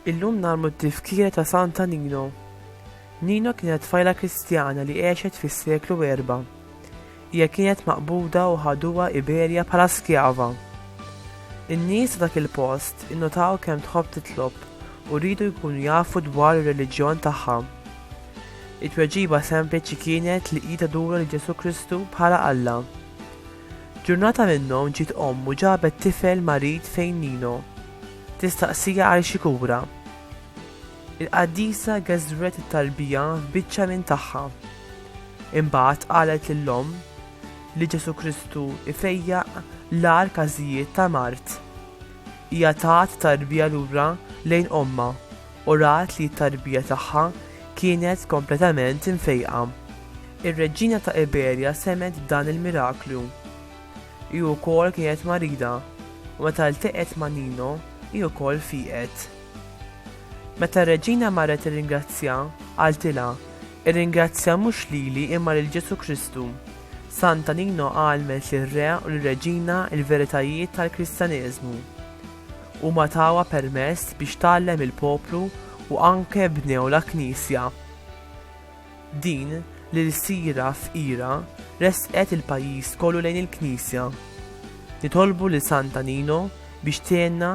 Illum nagħmlu t-tifkira ta' Santa Nino. Nino kienet fajla Kristjana li għexet fis-seklu erba'. Hija kienet maqbuda u ħaduha Iberja bħala skjava. In-nies ta' dak il-post innotaw kemm tħobb titlob u riedu jkunu jafu dwar ir-reliġjon tagħha. It-tweġiba sempliċi kienet li hi tadura lil Ġesù Kristu bħala Alla. Ġurnata minnhom ġiet omm u ġabet tifel marid fejn Nino. Tistaqsija għal xi kura. Il-qaddisa geżżret it-talbija f'biċċa minn tagħha. Imbagħad qalet lill-Omm li Ġesù Kristu jfejjaq l-agħar każijiet ta' mard. Hija tat tarbija lura lejn Ommha u rat li t-tarbija tagħha kienet kompletament imfejqa. Ir-reġina ta' Iberja semgħet b'dan il-miraklu. Hi wkoll kienet marida u meta ltaqgħet ma' Nino hi wkoll fieqet. Meta r-reġina marret tirringrazzja, qaltilha, Irringrazzja mhux lili imma lil Ġesù Kristu. Sant'Anino għallmet lir-re u lir-reġina l-veritajiet tal-Kristjaneżmu. Huma tawha permess biex tgħallem il-poplu u anke bnew la Knisja. Din, l-ilsira fqira, ressqet il-pajjiż kollu lejn il-Knisja. Nitolbu lil Sant'Anino biex tgħinna